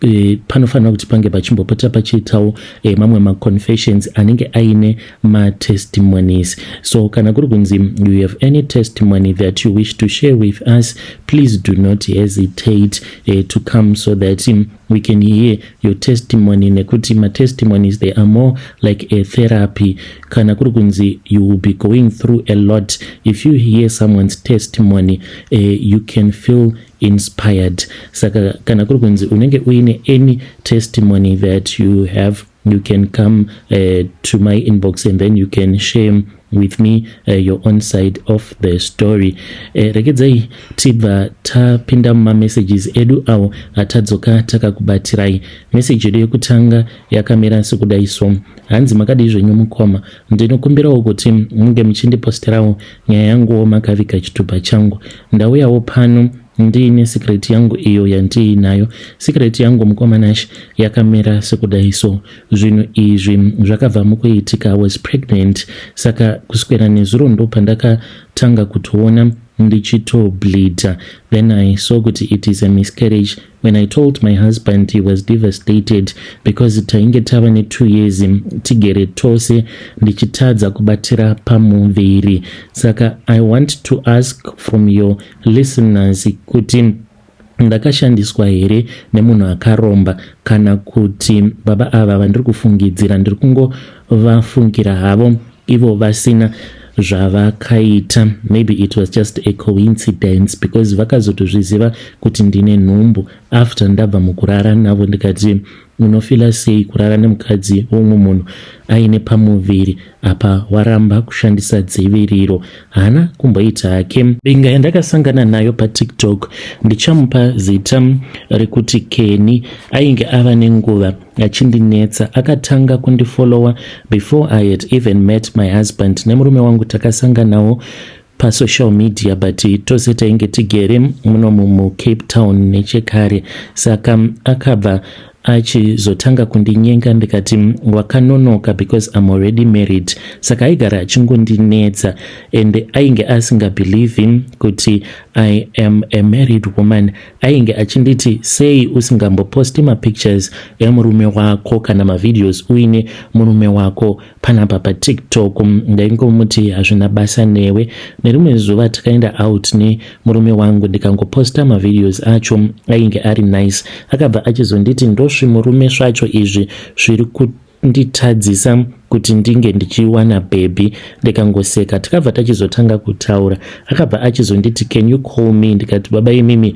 e, panofanira kuti pange pachimbopota pachiitawo e, mamwe maconfessions anenge aine matestimonies so kana kuri kunzi you have any testimony that you wish to share with us please do not hesitate e, to come so that um, we can hear your testimony nekuti matestimonies they are more like a therapy kana kuri kunzi you will be going through a lot if you hear someone's testimony uh, you can feel inspired saka kana kuri kunzi unenge uine any testimony that you have you can come uh, to my inbox and then you can share with me uh, your own side of the story uh, regedzai tibva tapinda mumamessages edu awo atadzoka takakubatsirai message yedu yekutanga yakamira sekudai so hanzi makadii zvenyu mukoma Ndinokumbirawo kuti munge muchindiposterawo nyaya yanguwo makaviga chitupa changu. Ndauyawo pano ndiine secret yangu iyo yandiinayo. Secret yangu mukoma Nash yakamera sekudai so. Zvinhu izvi zvakabva mukuitika was pregnant saka kuswera nezuro ndopandakatanga kutoona ndichitobleeder then I saw kuti it is a miscarriage When I told my husband he was devastated because tainge tava ne two years tigere tose ndichitadza kubatira pamuviri saka I want to ask from your listeners kuti ndakashandiswa here nemunhu akaromba kana kuti baba ava vandiri kufungidzira ndiri kungovafungira havo ivo vasina zvavakaita maybe it was just a coincidence because vakazotozviziva kuti ndine nhumbu after ndabva mukurara navo ndikati unofila sei kurara nemukadzi womwe munhu aine pamuviri apa waramba kushandisa dziviriro haana kumboita hake binga yandakasangana nayo patiktok ndichamupa zita rekuti keni ainge ava nenguva achindinetsa akatanga kundifollowa before i had even met my husband nemurume wangu takasanganawo pasocial media but tose tainge tigere muno mucape town nechekare saka akabva achizotanga kundinyenga ndikati wakanonoka because im already married saka aigara achingondinetsa and ainge asingabelieve kuti i am a married woman ainge achinditi sei usingamboposti mapictures emurume wako kana mavideos uine murume wako panapa patiktok ndaingomuti hazvina basa newe nerimwe zuva takaenda out nemurume wangu ndikangoposta mavideos acho ainge ari nice akabva achizonditi ndosvimurume svacho izvi zviri nditadzisa kuti ndinge ndichiwana bhebhi ndikangoseka tikabva tachizotanga kutaura akabva achizonditi can you call me ndikati baba imimi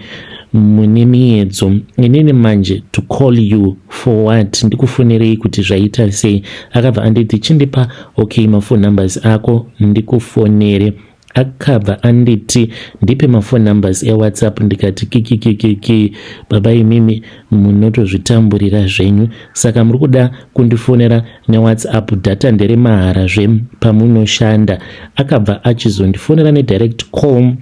mune miyedzo inini manje to call you for what ndikufonerei kuti zvaita sei akabva anditi chindipa okay mafon numbers ako ndikufonere akabva anditi ndipe maphone numbers ewhatsapp ndikati kikikikiki baba imimi munotozvitamburira zvenyu saka muri kuda kundifonera newhatsapp data ndere mahara zve pamunoshanda akabva achizondifonera nedirect call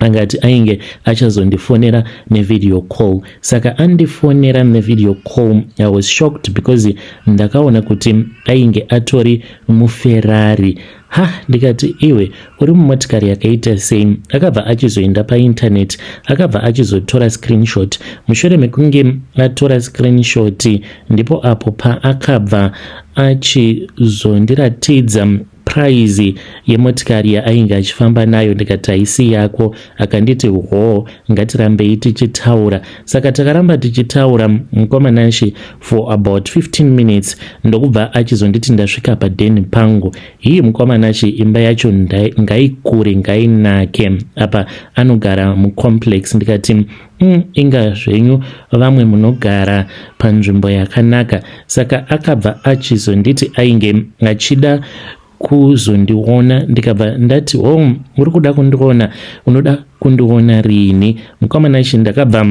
angati ainge achazondifonera nevideo call saka andifonera nevideo call i was shocked because ndakaona kuti ainge atori muferrari ha ndikati iwe uri mumotikari yakaita sei akabva achizoenda paintaneti akabva achizotora screenshot mushure mekunge atora screenshot ndipo apo paakabva achizondiratidza praizi yemotikari yaainge achifamba nayo ndikati haisi yako akanditi hoo ngatirambei tichitaura saka takaramba tichitaura mukoma nanshi for about 15 minutes ndokubva achizonditi ndasvika padeni pangu hii mukoma nashi imba yacho ngaikure ngainake apa anogara mucomplex ndikati mm, inga zvenyu vamwe munogara panzvimbo yakanaka saka akabva achizonditi ainge achida kuzondiona ndikabva ndati home oh, uri kuda kundiona unoda kundiona rini mukomana chi ndakabva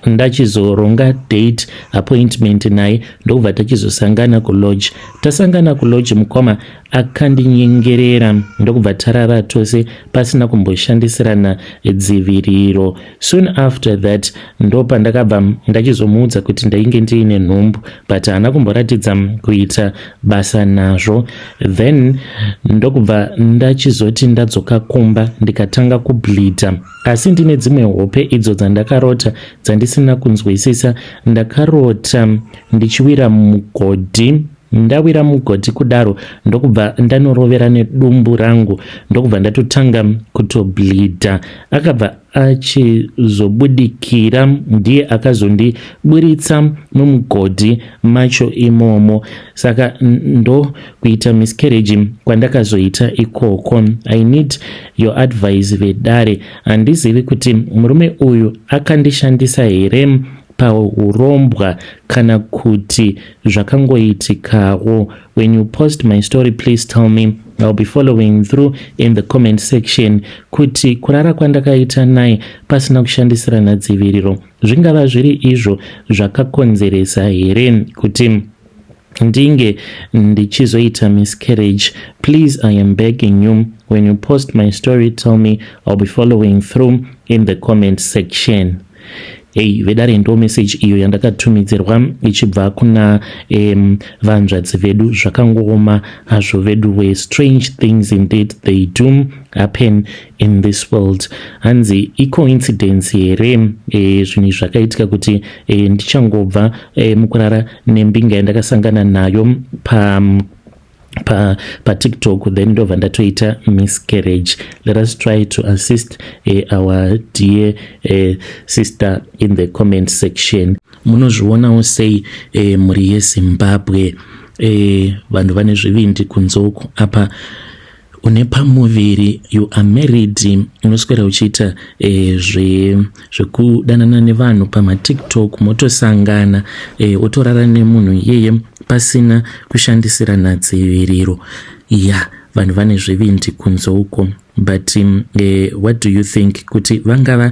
ndachizoronga date appointment naye ndokubva tachizosangana kulodge tasangana kulodge mukoma akandinyengerera ndokubva tarara tose pasina kumboshandisirana dziviriro soon after that ndopandakabva ndachizomuudza kuti ndainge ndiine nhumbu but haana kumboratidza kuita basa nazvo then ndokubva ndachizoti ndadzoka kumba ndikatanga kubleeda asi ndine dzimwe hope idzo dzandakarota dzandisina kunzwisisa ndakarota ndichiwira mugodhi Ndawira mugoti kudaro ndokubva ndanorovera nedumbu rangu ndokubva ndatotanga kutobleedha. Akabva achizobudikira ndiye akazondiburitsa mumugodhi macho imomo saka ndokuita miscarriage kwandakazoita ikoko i need your advice vedare handizivi kuti murume uyu akandishandisa here pahurombwa kana kuti zvakangoitikawo when you post my story please tell me I'll be following through in the comment section kuti kurara kwandakaita naye pasina kushandisirana dziviriro zvingava zviri izvo zvakakonzeresa here kuti ndinge ndichizoita miscarriage please i am begging you when you post my story tell me i'll be following through in the comment section ei vedare ndo message iyo yandakatumidzirwa ichibva kuna um, vanzvadzi vedu zvakangooma hazvo veduwe strange things indeed they do happen in this world hanzi icoincidence here eh, zvinhu izvi zvakaitika kuti eh, ndichangobva eh, mukurara nembinga yandakasangana nayo pa pa patiktok then ndobva ndatoita miscarriage let us try to assist uh, our dear uh, sister in the comment section munozvionawo sei uh, mhuri yezimbabwe uh, vanhu vane zvivindi kunze uku apa une pamuviri you are married unoswera uchiita eh, zvekudanana zve nevanhu pamatiktok motosangana eh, otorara nemunhu iyeye pasina kushandisirana dziviriro ya yeah, vanhu vane zvivindi kunze uko but um, eh, what do you think kuti vangava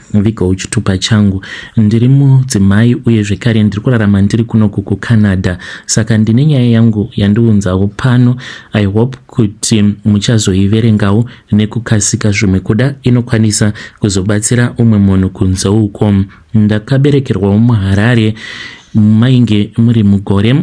Vigo uchitupa changu. Ndiri mudzimai uye zvekare ndiri kurarama ndiri kuno kuku Canada. Saka ndine nyaya yangu yandiunzawo pano. I hope kuti muchazoiverengawo nekukasika zvimwe kuda inokwanisa kuzobatsira umwe munhu kunze uko. Ndakaberekerwawo muHarare mainge muri mugore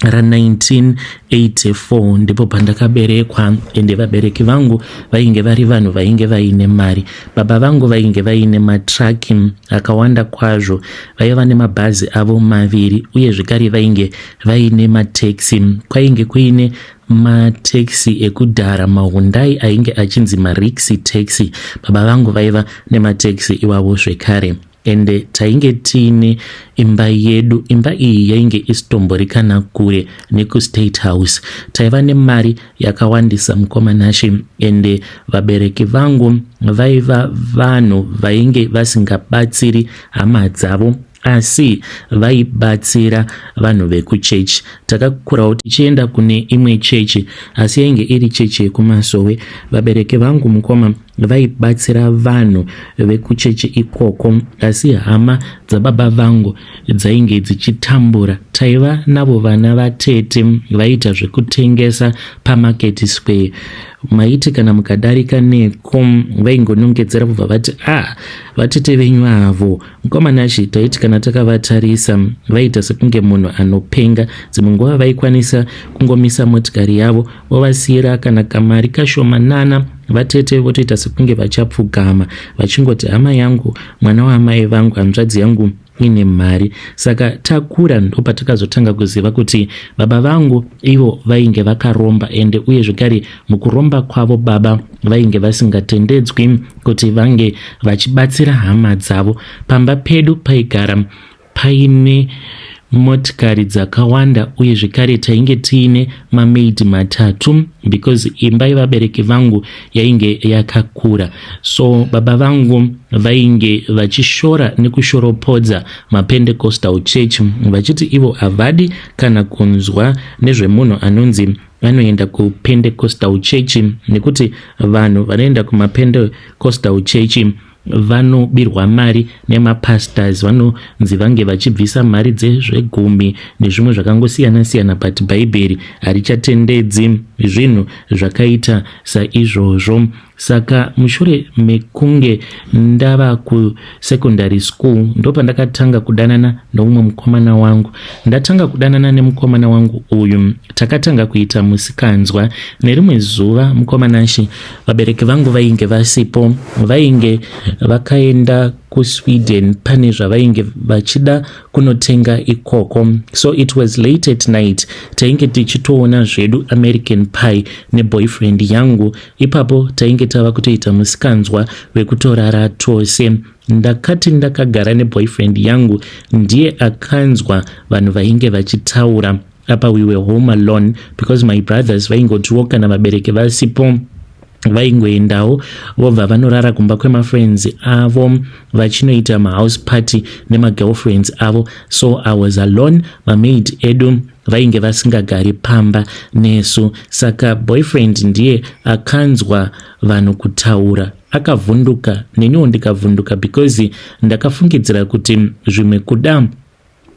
ra 1984 ndipo pandakaberekwa ende vabereki vangu vainge vari vanhu vainge vaine mari baba vangu vainge vaine matraki akawanda kwazvo vaiva nemabhazi avo maviri uye zvekare vainge vaine mateksi kwainge kuine mateksi ekudhara mahundai ainge achinzi marixi taxi baba vangu vaiva nemateksi iwavo zvekare ende tainge tiine imba yedu imba iyi yainge isitomborikana kure nekustate house taiva nemari yakawandisa mukoma nashe ende vabereki vangu vaiva vanhu vainge vasingabatsiri hama dzavo asi vaibatsira vanhu vekuchechi takakurawo tichienda kune imwe chechi asi yainge iri chechi yekumasowe vabereki vangu mukoma vaibatsira vanhu vekuchechi ikoko asi hama dzababa vangu dzainge dzichitambura taiva navo vana vatete vaiita zvekutengesa pamarket square maiti kana mukadarika neko vaingonongedzera kubva vati a ah, vatete venyu avo Mukoma Nashy taiti kana takavatarisa vaiita sekunge munhu anopenga. Dzimwe nguva vaikwanisa kungomisa motikari yavo vovasiyira kana kamari kashomanana vatete votoita sekunge vachapfugama vachingoti hama yangu mwana waamai vangu hanzvadzi yangu ine mari saka takura ndopatakazotanga kuziva kuti baba vangu ivo vainge vakaromba ende uye zvekare mukuromba kwavo baba vainge vasingatendedzwi kuti vange vachibatsira hama dzavo pamba pedu paigara paine motikari dzakawanda uye zvekare tainge tiine mamaidi matatu because imba yevabereki vangu yainge yakakura so baba vangu vainge vachishora nekushoropodza mapendecostal church vachiti ivo havadi kana kunzwa nezvemunhu anonzi vanoenda kupendecostal church nekuti vanhu vanoenda kumapendecostal church vanobirwa mari nemapastors vanonzi vange vachibvisa mari dzezvegumi nezvimwe zvakangosiyana siyana but bhaibheri harichatendedzi zvinhu zvakaita saizvozvo saka mushure mekunge ndava kusecondary school ndopandakatanga kudanana noumwe mukomana wangu ndatanga kudanana nemukomana wangu uyu takatanga kuita musikanzwa nerimwe zuva mukomanashi vabereki vangu vainge vasipo vainge vakaenda kusweden pane zvavainge vachida kunotenga ikoko so it was late at night tainge tichitoona zvedu american pie neboyfriend yangu Ipapo tainge tava kutoita musikanzwa wekutorara tose. Ndakati ndakagara neboyfriend yangu ndiye akanzwa vanhu vainge vachitaura. Apa we were home alone because my brothers vaingotiwo kana vabereki vasipo vaingoendawo vobva vanorara kumba kwemafriends avo vachinoita mahouse party nemagirlfriends avo so i was alone mamaid edu vainge vasingagari pamba nesu saka boyfriend ndiye akanzwa vanhu kutaura akavhunduka neniwo ndikavhunduka because ndakafungidzira kuti zvimwe kuda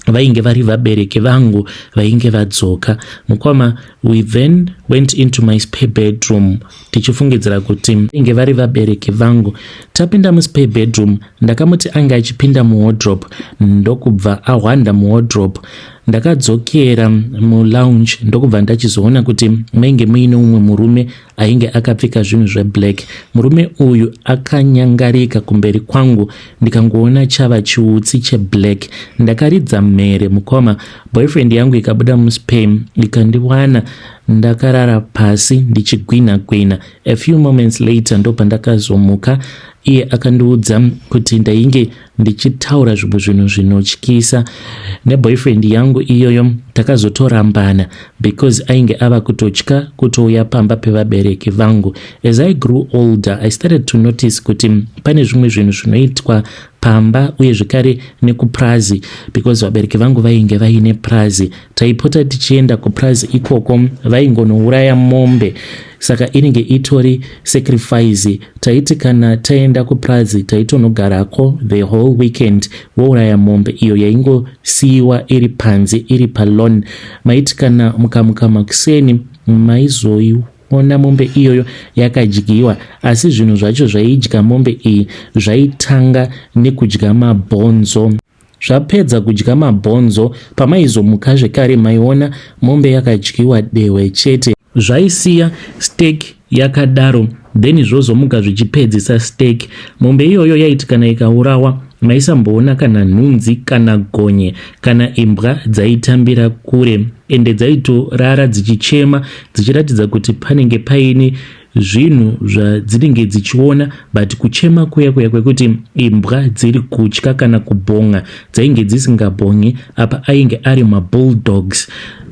vainge vari vabereki vangu vainge vadzoka mukoma we then went into my spare bedroom tichifungidzira kuti vainge vari vabereki vangu tapinda muspare bedroom ndakamuti ange achipinda muwodrop ndokubva ahwanda muwodrop ndakadzokera mulounge ndokubva ndachizoona kuti mainge muine umwe murume ainge akapfeka zvinhu zveblack murume uyu akanyangarika kumberi kwangu ndikangoona chava chiutsi cheblack ndakaridza mhere mukoma boyfriend yangu ikabuda muspam ikandiwana ndakarara pasi ndichigwina gwina a few moments later ndopandakazomuka iye akandiudza kuti ndainge ndichitaura zvimwe zvinhu zvinotyisa neboyfriend yangu iyoyo takazotorambana because ainge ava kutotya kutouya pamba pevabereki vangu as i grew older i started to notice kuti pane zvimwe zvinhu zvinoitwa pamba uye zvekare nekupurazi because vabereki vangu vainge vaine purazi taipota tichienda kupurazi ikoko vaingonouraya mombe saka inenge itori sacrifice taiti kana taenda kupurazi taitonogarako the whole weekend vouraya mombe iyo yaingosiyiwa iri panze iri palon maiti kana mukamuka makuseni maizoiwa ona mombe iyoyo yakadyiwa asi zvinhu zvacho zvaidya mombe iyi zvaitanga nekudya mabhonzo zvapedza kudya mabhonzo pamaizomuka zvekare maiona mombe yakadyiwa dehwe chete zvaisiya stek yakadaro then zvozomuka zvichipedzisa stek mombe iyoyo yaiti kana ikaurawa maisamboona kana nhunzi kana gonye kana imbwa dzaitambira kure ende dzaitorara dzichichema dzichiratidza kuti panenge paine zvinhu zvadzinenge dzichiona but kuchema kuya kuya kwekuti imbwa dziri kutya kana kubhonga dzainge dzisingabhongi apa ainge ari mabulldogs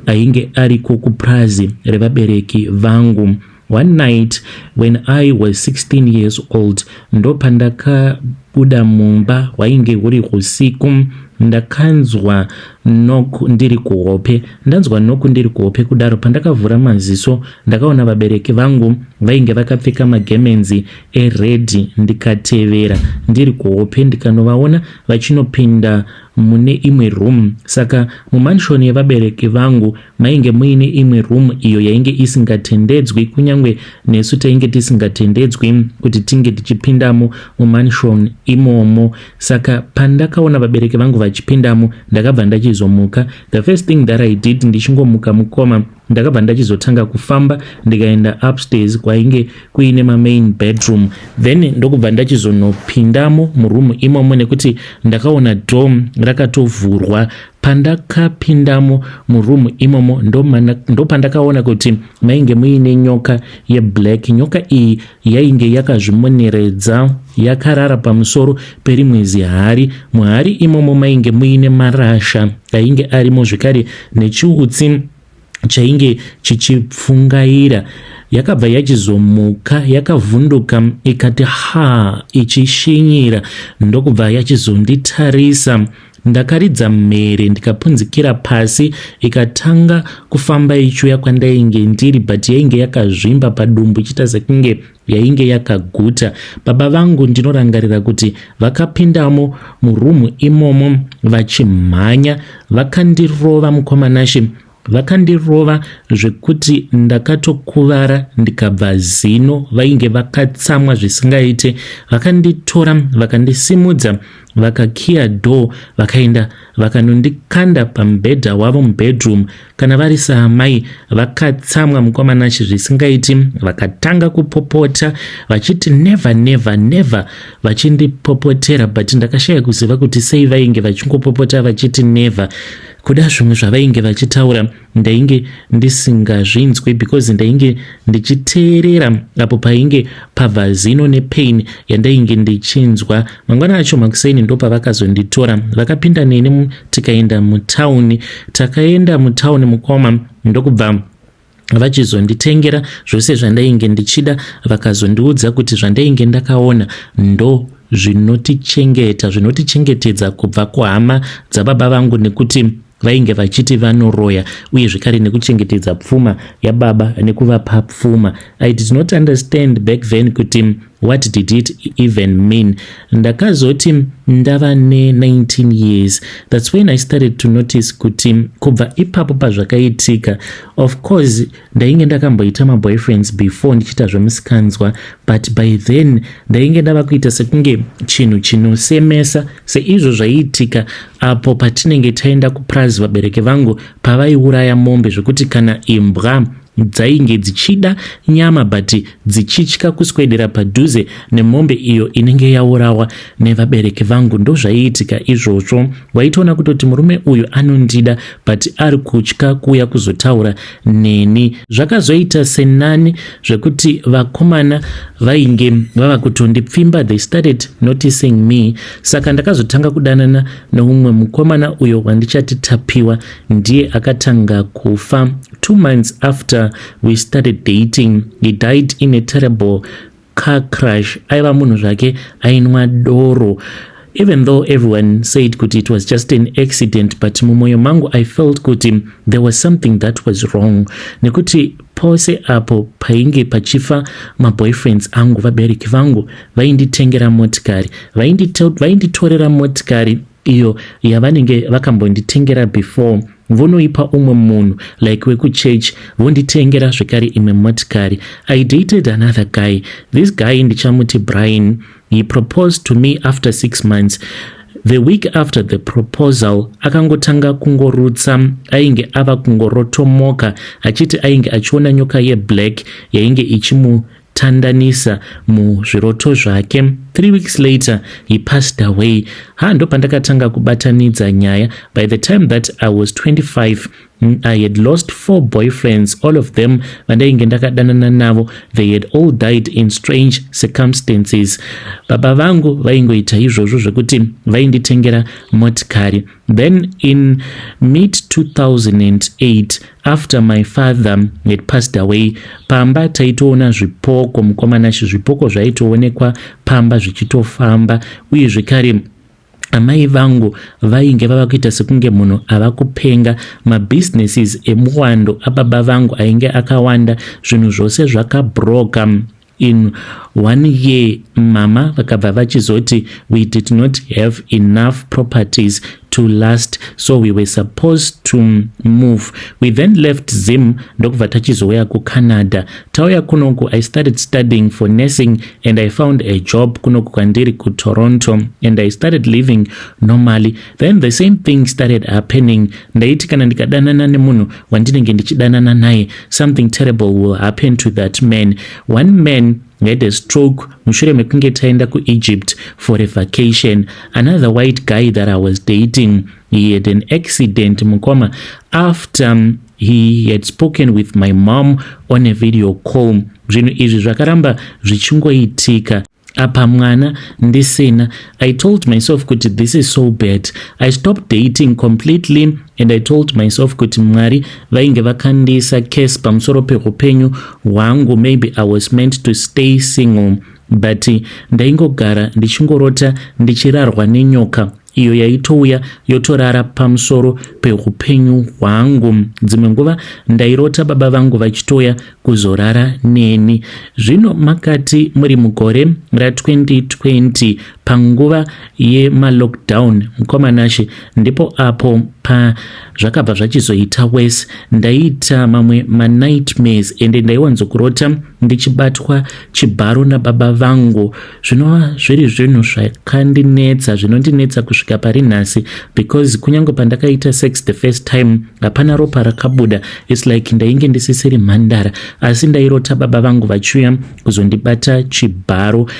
ainge ariko kupurazi revabereki vangu one night when i was 16 years old ndopandaka Kubuda mumba hwainge huri husiku ndakanzwa nok ndiri kuhope ndanzwa nok ndiri kuhope kudaro pandakavhura maziso ndakaona vabereki vangu vainge vakapfeka magemenzi eredhi ndikatevera ndiri kuhope ndikanovaona vachinopinda mune imwe room saka mumanshoni yevabereki vangu Mainge muine imwe room iyo yainge isingatendedzwi kunyange nesu tainge tisingatendedzwi kuti tinge tichipindamo mumansion imomo. Saka pandakaona vabereki vangu vachipindamo ndakabva ndachizomuka. The first thing that I did ndichingomuka mukoma ndakabva ndachizotanga kufamba ndikaenda upstairs kwainge kuine mamain bedroom then ndokubva ndachizonopindamo muroom imomo nekuti ndakaona dom rakatovhurwa Pandakapindamo muroom imomo ndopandakaona ndo kuti mainge muine nyoka yeblack. Nyoka iyi yainge yakazvimoneredza yakarara pamusoro perimwe zihari. Muhari imomo mainge muine marasha ainge arimo zvekare nechiutsi chainge chichipfungaira yakabva yachizomuka yakavhunduka ikati ha ichishinyira ndokubva yachizonditarisa ndakaridza mhere ndikapunzikira pasi ikatanga kufamba ichuya kwandainge ndiri but yainge yakazvimba padumbu ichiita sekunge yainge yakaguta. Baba vangu ndinorangarira kuti vakapindamo murumu imomo vachimhanya vakandirova mukomanashe vakandirova zvekuti ndakatokuvara ndikabva zino vainge vakatsamwa zvisingaite vakanditora vakandisimudza vakakiya door vakaenda vakanondikanda pamubhedha wavo mubedroom Kana vari saamai vakatsamwa mukoma Nash zvisingaiti vakatanga kupopota vachiti never never never vachindipopotera but ndakashaya kuziva kuti sei vainge vachingopopota vachiti never kuda zvimwe zvavainge vachitaura ndainge ndisingazvinzwi because ndainge ndichiteerera apo painge pabva zino nepain yandainge ndichinzwa mangwana acho makuseni ndopavakazonditora vakapinda neni tikaenda mutauni takaenda mutauni mukoma ndokubva vachizonditengera zvose zvandainge ndichida vakazondiudza kuti zvandainge ndakaona ndo zvinotichengeta zvinotichengetedza kubva kuhama dzababa vangu nekuti vainge vachiti vanoroya uye zvekare nekuchengetedza pfuma yababa nekuvapa pfuma i did not understand back then kuti what did it even mean ndakazoti ndava ne19 years thats when i started to notice kuti kubva ipapo pazvakaitika of course ndainge ndakamboita maboyfriends before ndichiita zvemusikanzwa but by then ndainge ndava kuita sekunge chinhu chinosemesa seizvo zvaiitika apo patinenge taenda kupurazi vabereki vangu pavaiuraya mombe zvekuti kana imbwa dzainge dzichida nyama but dzichitya kuswedera padhuze nemombe iyo inenge yaurawa nevabereki vangu ndozvaiitika izvozvo waitoona kutoti murume uyu anondida but ari kutya kuuya kuzotaura neni zvakazoita senani zvekuti vakomana vainge vava kutondipfimba they started noticing me saka ndakazotanga kudanana neumwe mukomana uyo wandichati tapiwa ndiye akatanga kufa two months after we started dating he died in a terrible car crash aiva munhu zvake ainwa doro even though everyone said kuti it was just an accident but mumwoyo mangu i felt kuti there was something that was wrong nekuti pose apo painge pachifa maboyfriends angu vabereki vangu vainditengera motikari vainditorera motikari iyo yavanenge vakambonditengera before vonoipa umwe munhu like wekuchurch vonditengera zvekare imwe motikari i dated another guy this guy ndichamuti brian he proposed to me after six months the week after the proposal akangotanga kungorutsa ainge ava kungorotomoka achiti ainge achiona nyoka yeblack yainge ichimu Tandanisa muzviroto zvake. Three weeks later he passed away. Ha, ndopandakatanga kubatanidza nyaya. By the time that I was 25 mm, I had lost four boyfriends, all of them vandainge ndakadanana navo. They had all died in strange circumstances. Baba vangu vaingoita izvozvo zvekuti vainditengera motikari Then in mid 2008 after my father had passed away pamba taitoona zvipoko mukomana shi zvipoko zvaitoonekwa pamba zvichitofamba uye zvekare amai vangu vainge vava kuita sekunge munhu ava kupenga mabusinesses emuwando ababa vangu ainge akawanda zvinhu zvose zvakabroka In one year mama vakabva vachizoti we did not have enough properties to last so we were supposed to move we then left zim ndokubva tachizouya kucanada tauya kunoku i started studying for nursing and i found a job kunoku kwandiri kutoronto and i started living normally then the same thing started happening ndaiti kana ndikadanana nemunhu wandinenge ndichidanana naye something terrible will happen to that man one man had a stroke mushure mekunge taenda kuegypt for a vacation another white guy that i was dating he had an accident mukoma after um, he had spoken with my mom on a video call zvinhu izvi zvakaramba zvichingoitika apa mwana ndisina i told myself kuti this is so bad i stopped dating completely and i told myself kuti mwari vainge vakandiisa case pamusoro peupenyu hwangu maybe i was meant to stay single but ndaingogara ndichingorota ndichirarwa nenyoka iyo yaitouya yotorara pamusoro peupenyu hwangu dzimwe nguva ndairota baba vangu vachitoya kuzorara neni zvino makati muri mugore ra2020 panguva yemalockdown mukomanashe ndipo apo pazvakabva zvachizoita wese ndaiita mamwe manightmares ende ndaiwanzokurota ndichibatwa chibharo nababa vangu zvinova zviri zvinhu zvakandinetsa zvinondinetsa kusvika pari nhasi because kunyange pandakaita sex the first time hapana ropa rakabuda its like ndainge ndisisiri mhandara asi ndairota baba vangu vachiuya kuzondibata chibharo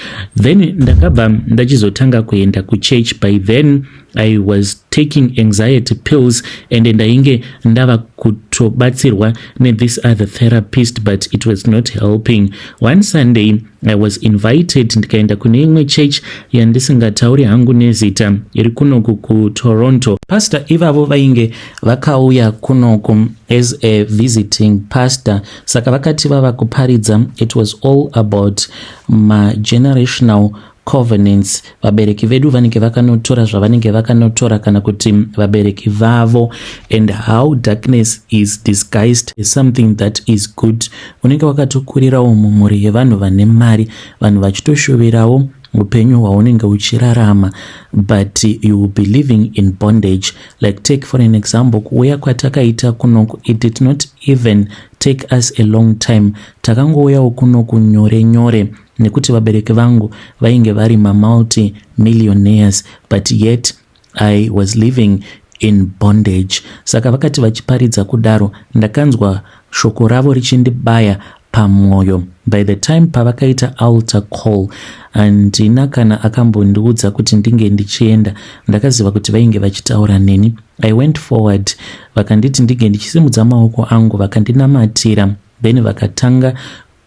then ndakabva ndachizotanga kuenda kuchurch by then I was taking anxiety pills and ndainge ndava kutobatsirwa nethis other therapist but it was not helping. One Sunday I was invited ndikaenda kune imwe church yandisingatauri hangu nezita iri kunoku kuToronto. Pastor ivavo vainge vakauya kunoku as a visiting pastor saka vakati vava kuparidza it was all about magenerational covenants vabereki vedu vanenge vakanotora zvavanenge vakanotora kana kuti vabereki vavo and how darkness is disguised is something that is good unenge wakatokurirawo mumhuri yevanhu vane mari vanhu vachitoshuvirawo upenyu hwaunenge uchirarama but you will be living in bondage like take for an example kuuya kwatakaita kuno it did not even take us a long time takangouyawo kuno kunyore nyore nekuti vabereki vangu vainge vari mamulti millionaires but yet i was living in bondage saka vakati vachiparidza kudaro ndakanzwa shoko ravo richindibaya pamwoyo by the time pavakaita alter call handina kana akambondiudza kuti ndinge ndichienda ndakaziva kuti vainge vachitaura neni i went forward vakanditi ndinge ndichisimudza maoko angu vakandinamatira then vakatanga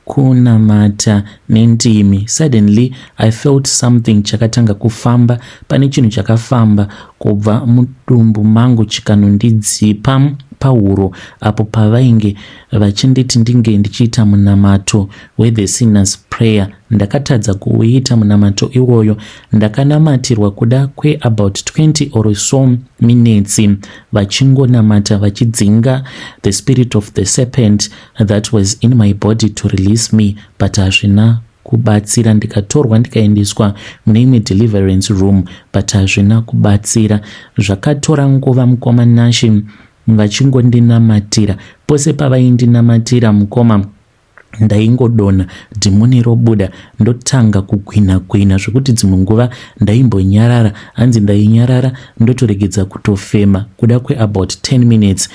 kunamata nendimi suddenly i felt something chakatanga kufamba pane chinhu chakafamba kubva mudumbu mangu chikanondidzipa pahuro apo pavainge vachinditi ndinge ndichiita munamato wethe sinners prayer ndakatadza kuuita munamato iwoyo ndakanamatirwa kuda kweabout 20 or so minetsi vachingonamata vachidzinga the spirit of the serpent that was in my body to release me but hazvina kubatsira ndikatorwa ndikaendeswa mune imwe deliverance room but hazvina kubatsira zvakatora nguva mukoma nashe vachingondinamatira pose pavaindinamatira mukoma ndaingodona dhimoni robuda ndotanga kugwina gwina zvekuti dzimwe nguva ndaimbonyarara hanzi ndainyarara ndotoregedza kutofema kuda kweabout 10 minutes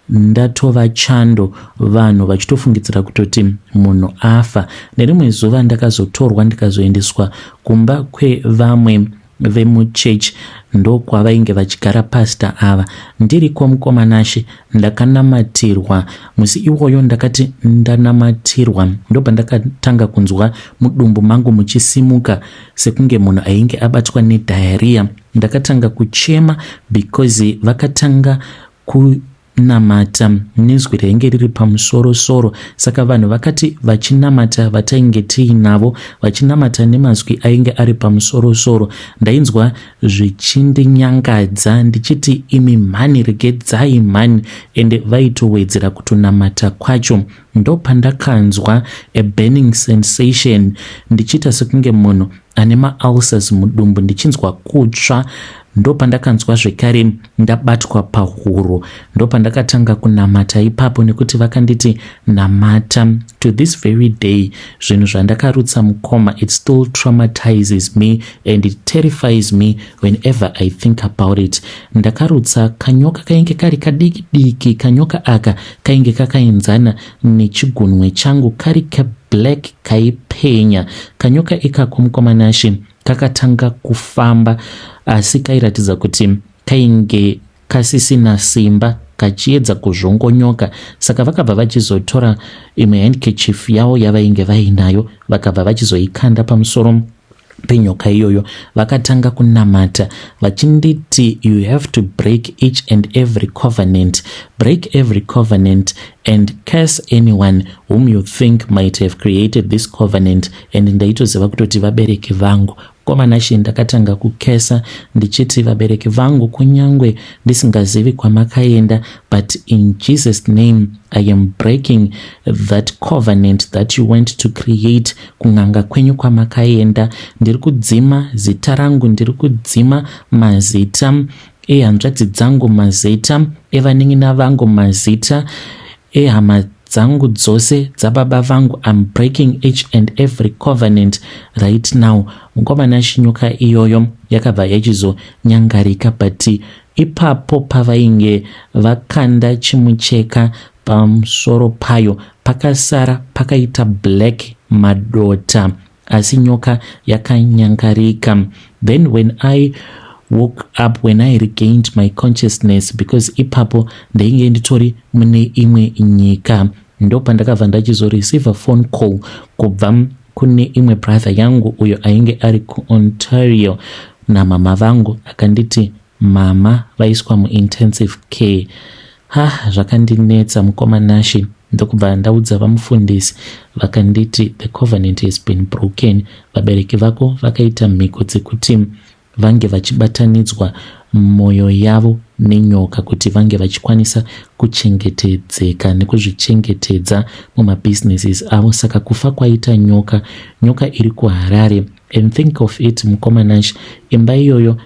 ndatova chando vanhu vachitofungidzira kutoti munhu afa nerimwe zuva ndakazotorwa ndikazoendeswa kumba kwevamwe vemuchechi ndokwavainge vachigara pasta ava ndiriko mukomanashe ndakanamatirwa musi iwoyo ndakati ndanamatirwa ndobva ndakatanga kunzwa mudumbu mangu muchisimuka sekunge munhu ainge abatwa nedhayariya ndakatanga kuchema because vakatanga kunamata nezwi rainge riri pamusoro soro saka vanhu vakati vachinamata vatainge tiinavo vachinamata nemazwi ainge ari pamusoro soro ndainzwa zvichindinyangadza ndichiti imi mhani regedzai mhani ende vaitowedzera kutonamata kwacho Ndopandakanzwa a burning sensation ndichiita sekunge munhu ane maulcers mudumbu ndichinzwa kutsva ndopandakanzwa zvekare ndabatwa pahuro ndopandakatanga kunamata ipapo nekuti vakanditi namata to this very day zvinhu zvandakarutsa mukoma it still traumatizes me and it terrifies me whenever i think about it ndakarutsa kanyoka kainge kari kadiki diki kanyoka aka kainge kakaenzana nechigunwe changu kari kablack kaipenya kanyoka ikako mukwamanashe kakatanga kufamba asi kairatidza kuti kainge kasisina simba kachiedza kuzvongonyoka saka vakabva vachizotora imwe handkerchief yavo yavainge vainayo vakabva vachizoikanda pamusoro penyoka iyoyo vakatanga kunamata vachinditi you have to break each and every covenant break every covenant and curse anyone whom you think might have created this covenant and ndaitoziva kutoti vabereki vangu komanashe ndakatanga kukesa ndichiti vabereki vangu kunyange ndisingazivi kwamakaenda but in jesus name i am breaking that covenant that you went to create kun'anga kwenyu kwamakaenda ndiri kudzima zita rangu ndiri kudzima mazita ehanzvadzi dzangu mazita evanin'ina vangu mazita ehama dzangu dzose dzababa vangu im breaking each and every covenant right now mukomana shinyuka iyoyo yakabva yachizonyangarika but ipapo pavainge vakanda chimucheka pamusoro payo Pakasara pakaita black madota asi nyoka yakanyangarika. Then when I woke up when I regained my consciousness because ipapo ndainge nditori mune imwe nyika ndopandakabva ndachizoreceive phone call kubva kune imwe brother yangu uyo ainge ari kuontario namama vangu akanditi Mama vaiswa muintensive care. Ha, zvakandinetsa mukoma Nashi ndokubva ndaudza vamufundisi vakanditi the covenant has been broken. Vabereki vako vakaita mhiko dzekuti vange vachibatanidzwa mwoyo yavo nenyoka kuti vange vachikwanisa kuchengetedzeka nekuzvichengetedza mumabusinesses avo saka kufa kwaita nyoka nyoka iri kuharare and think of it mukoma nash imba iyoyo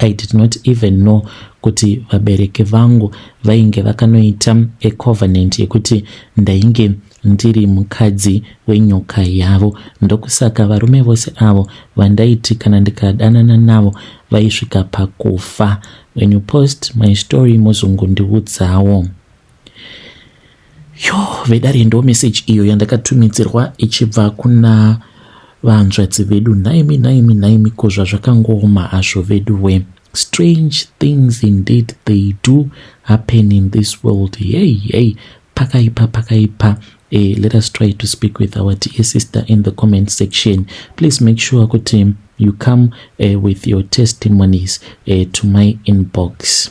I did not even know kuti vabereki vangu vainge vakanoita ecovenant yekuti ndainge ndiri mukadzi wenyoka yavo ndokusaka varume vose avo vandaiti kana ndikadanana navo vaisvika pakufa when you post my story mozongondiudzawo yo vedare ndo message iyo yandakatumidzirwa ichibva kuna vanzvadzi vedu nhaimi nhaimi nhaimi ko zvazvakangoma hazvo veduwe strange things indeed they do happen in this world yey yey pakaipa pakaipa e, let us try to speak with our dear sister in the comment section please make sure kuti you come uh, with your testimonies uh, to my inbox